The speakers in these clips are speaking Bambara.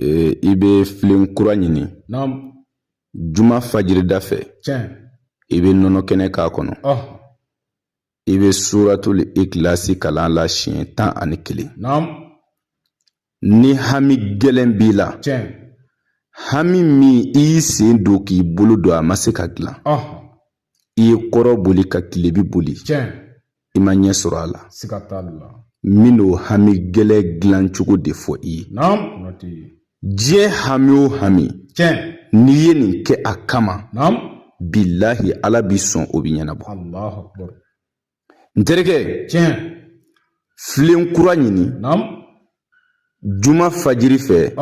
Ee i bɛ filen kura ɲini juma fajiri da fɛ i bɛ nɔnɔ kɛnɛ k'a kɔnɔ i bɛ suratuli ikilasi kalan la siɲɛ tan ani kelen ni hami gɛlɛn b'i la hami min i y'i sen don k'i bolo don a ma se ka dilan i ye kɔrɔn boli ka tilebi boli i ma ɲɛ sɔrɔ a la n bɛn'o hami gɛlɛn dilan cogo de fɔ i ye diɲɛ hami o hami n'i ye nin kɛ a kama bilahi ala b'i sɔn o bɛ ɲɛnabɔ n terikɛ filen kura ɲini juma fajiri fɛ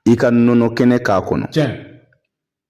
i ka nɔnɔ kɛnɛ k'a kɔnɔ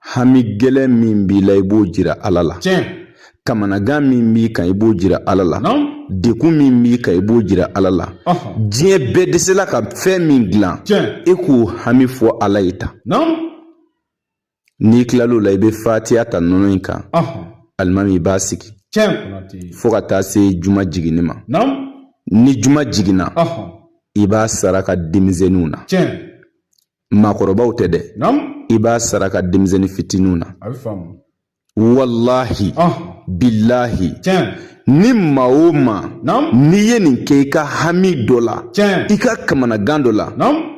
hami gɛlɛn min b'i la i b'o jira ala la kamanagan min b'i kan i b'o jira ala la dekun min b'i kan i b'o jira ala la diɲɛ bɛɛ dɛsɛla ka fɛn min dilan e k'o hami fɔ ala ye tan n'i kilal'o la i bɛ fatiya ta nɔnɔ in kan alimami i b'a sigi fo ka taa se juma jiginni ma ni juma jiginna i b'a saraka denmisɛnninw na maakɔrɔbaw tɛ dɛ i b'a saraka denmisɛnnin fitininw na walahi bilahi ni maa o maa n'i ye nin kɛ i ka hami dɔ la i ka kamanagan dɔ la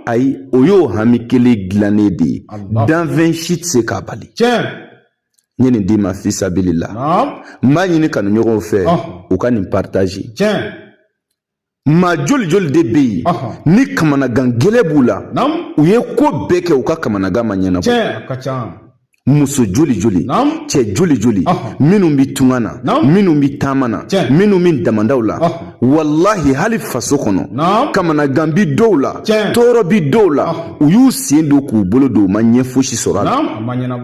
ayi o y'o hami kelen dilannen de ye danfɛn si tɛ se k'a bali n ye nin d'i ma fisabilila n b'a ɲini kanuɲɔgɔnw fɛ u ka nin partager maa joli joli de bɛ yen ni kamanagan gɛlɛn b'u la u ye ko bɛɛ kɛ u ka kamanagan ma ɲɛnabɔ muso joli joli cɛ joli joli minnu bɛ tunga na minnu bɛ taama na minnu bɛ damandaw la walahi hali faso kɔnɔ kamanagan bi dɔw la tɔɔrɔ bi dɔw la u y'u sen don k'u bolo don u ma ɲɛ fosi sɔrɔ a la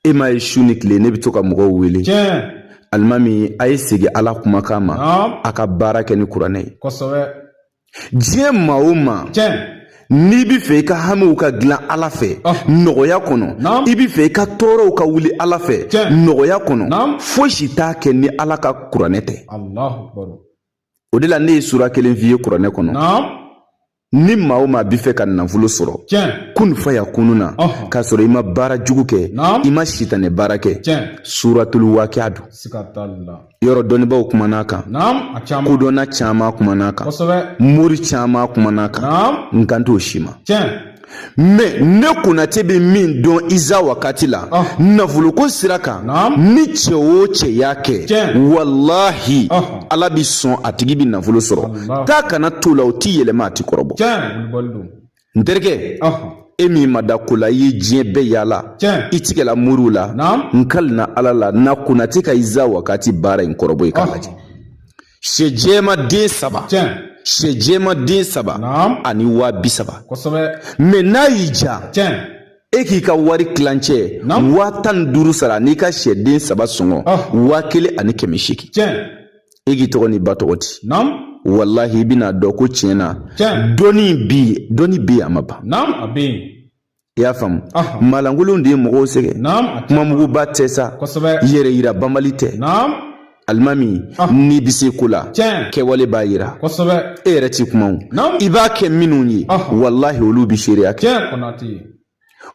e m'a ye su ni tile ne bɛ to ka mɔgɔw wele alimami a ye segin ala kumakan ma a ka baara kɛ ni kuranɛ ye diɲɛ maa o maa n'i bɛ fɛ i ka hamiw ka dilan ala fɛ nɔgɔya kɔnɔ i bɛ fɛ i ka tɔɔrɔw ka wuli ala fɛ nɔgɔya kɔnɔ fosi t'a kɛ ni ala ka kuranɛ tɛ o de la ne ye sura kelen f'i ye kuranɛ kɔnɔ ni maa o maa b'i fɛ ka nafolo sɔrɔ kun fayakunu na k'a sɔrɔ i ma baara jugu kɛ i ma sitanɛ baara kɛ suratulu wakiya don yɔrɔ dɔnnibaw kuman'a kan kodɔnna caman kuman'a kan mori caman kuman'a kan n kan t'o si ma mɛ ne konate bɛ min dɔn iza wagati la ah. nafoloko sira kan ni cɛ o cɛ y'a kɛ walahi ah. ala bɛ sɔn a tigi bɛ nafolo sɔrɔ taa ka na t'o la o ti yɛlɛma a ti kɔrɔbɔ n terikɛ ah. e min ma da ko la i ye diɲɛ bɛɛ yaala i tigɛla moriw la n kalina ala la na konate ka iza wagati baara in kɔrɔbɔ i k'a lajɛ Sɛ jɛman den saba sɛ jɛman den saba ani waa bi saba mɛ n'a y'i ja e k'i ka wari tilancɛ waa tan ni duuru sara n'i ka sɛden saba sɔngɔ ah. waa kelen ani kɛmɛ seegin e k'i tɔgɔ ni ba tɔgɔ di walahi i bɛn'a dɔn ko tiɲɛ na dɔnni bi dɔnni bi yen a ma ban i y'a faamu malankolon de ye mɔgɔw sɛgɛn kumamuguba tɛ sa yɛrɛ yira banbali tɛ alimami n'i bɛ se ko la kɛwale b'a yira e yɛrɛ ti kuma o i b'a kɛ minnu ye walahi olu bɛ seereya kɛ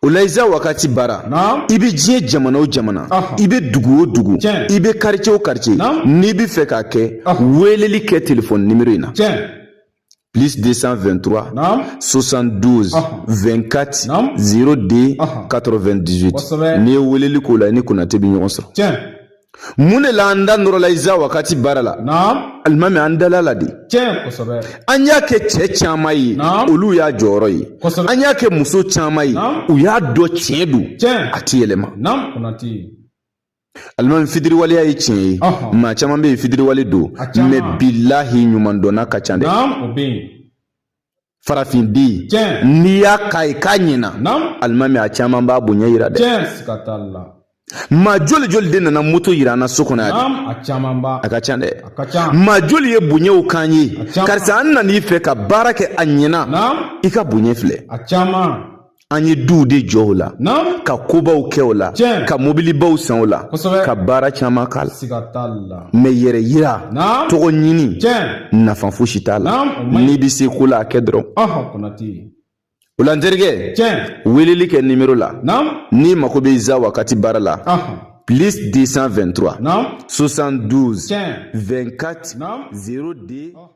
o la iza wagati baara i bɛ diɲɛ jamana o jamana i bɛ dugu o dugu i bɛ karice o karice n'i bɛ fɛ k'a kɛ weleli kɛ telefɔni nimero in na plus 223 Naam. 72 Aha. 24 Naam. 02 Aha. 98 Kosɛbɛ. n'i ye weleli k'o la i ni konate bɛ ɲɔgɔn sɔrɔ tiɲɛ mun de la an da nɔrɔla iza wagati baara la naam alimami an dal'a la de tiɲɛ kosɛbɛ an y'a kɛ cɛ caman ye Naam. olu y'a jɔyɔrɔ ye Kosɛbɛ. an y'a kɛ muso caman ye Naam. u y'a dɔn tiɲɛ don tiɲɛ a ti yɛlɛma naam konate alimami fitiriwaleya ye tiɲɛ ye maa caman bɛ yen fitiriwale don mɛ bilahi ɲuman dɔnna ka ca dɛ farafin den n'i y'a k'a ye k'a ɲɛna alimami a caman b'a bonya yira dɛ maa joli joli de nana moto yira an na so kɔnɔ yan a ka ca dɛ maa joli ye bonyaw k'an ye karisa an nan'i fɛ ka baara kɛ a ɲɛna i ka bonya filɛ an ye duw de jɔ o la ka kobaw kɛ o la ka mobilibaw san o la ka baara caman k'a la mɛ yɛrɛ yira tɔgɔ ɲini nafa fosi t'a la n'i bɛ se ko la a kɛ dɔrɔn o la n terikɛ weleli kɛ nimero la n'i mago bɛ iza wakati baara la plus 223 72 24 02